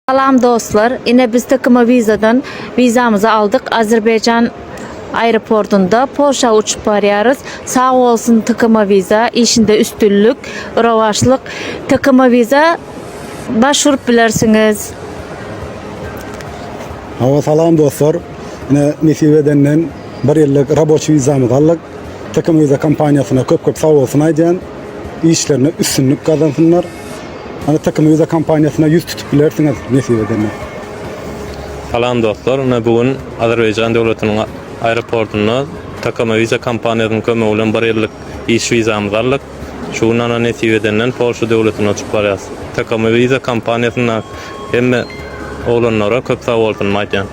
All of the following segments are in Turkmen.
Salam dostlar ine biz tkma vizadan vizamyzy aldyk Azerbaýjan aeroportunda Polşa uçup barýarys sag bolsun tkma viza işinde üstünlik rowaçlyk tkma viza baş urup bilersiňiz. Hawa salam dostlar ine nesip edenden bir ýyllyk raboçi vizamyzy aldyk tkma viza kompaniýasyna köp köp sag bolsun aýdýan işlerinde üstünlik gazansynlar. Ynha Tiki Muza kompaniýasyna ýüz tutup bilersiňiz nesip edende. Salam dostlar, ine bu gün Azerbaýjan döwletiniň aeroportunda Tiki Muza kompaniýasynyň kömegi bilen bir ýyllyk iş wizamyzy aldyk. Şu gün ynha nesip edenden Polşa döwletine uçup barýas. Tiki Muza kompaniýasynda hemme oglanlara köp sag bolsunymy aýtýan.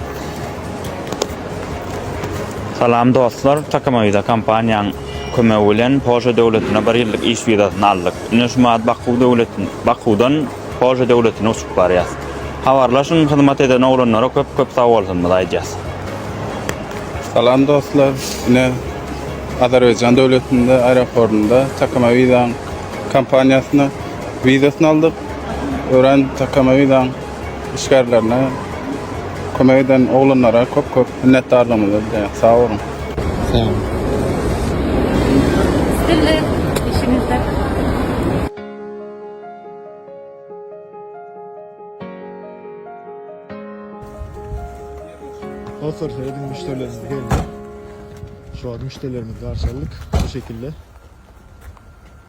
Salam dostlar, Tiki Muza kompaniýaň kömegi bilen Polşa döwletine bir ýyllyk iş wizasyny aldyk. Ine şu mad Baku döwletini, Bakudan Polşa döwletine uçup barýas. Habarlaşyň hyzmat eden oglanlara köp köp sag bolsunmyz aýdýas. Salam dostlar. Ine Azerbaýjan döwletinde aeroportynda Takama Vizaň kompaniýasyna wizasyny aldyk. Örän Takama Vizaň işgärlerine kömek eden oglanlara köp köp minnetdarlygymyzy bildirýäs. Sag boluň. Sag boluň. Dostlar seyredin müşterilerimiz geldi. Şu an müşterilerimizi karşıladık bu şekilde.